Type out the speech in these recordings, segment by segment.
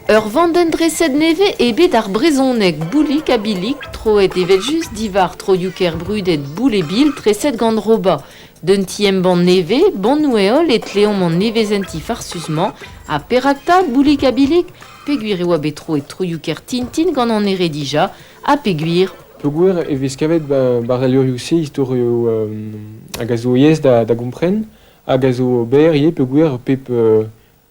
Ur vandenn-dreset nevez eo bet ar brezhoneg Boulig ha Billig, troet evel-just diwar troioù-kaer brudet Boulebil treset gant Roba. D'un ti-embann nevez, Bonnoù-Heol, e tleomp an nevezenti farsus-mañ ha perak 'ta Boulig ha Billig? Peogwir e oa bet troet troioù-kaer Tintin gant an ere dija, ha peogwir peogwir e vez kavet barrelurioù-se istorioù hag a zo aes da gompren hag a zo berr ivez peogwir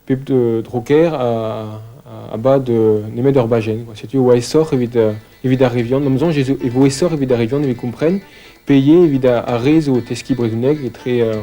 pep droker a bad nemet ur bajenn setu e oa aesoc'h evit ar re vihan ma soñj e vo aesoc'h evit ar re vihan evit kompren p'eo evit ar re zo o teskiñ brezhoneg etre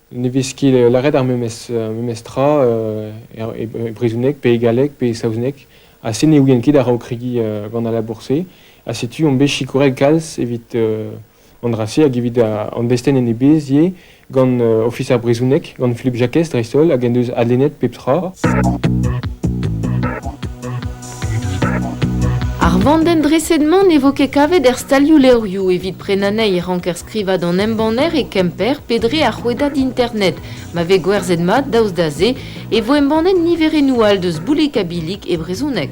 Ne vez ket lâret ar memes tra e brezhoneg pe e galleg pe e saozneg ha se ne ouien ket a-raok kregiñ gant al labour-se ha setu on bet sikouret kalz evit an dra-se hag evit an destenn en e bezh ivez gant Ofis ar brezhoneg, gant Philippe Jacquez dreist-holl hag en deus adlennet pep tra. Ar vandenn-dreset-mañ ne vo ket kavet er stalioù-levrioù evit prenañ anezhi e ranker Skrivañ d'an embanner e Kemper pe dre ar rouedad internet. Ma vez gwerzhet mat daoust da se e vo embannet niverennoù all deus Boulik-ha-Bilik e brezhoneg.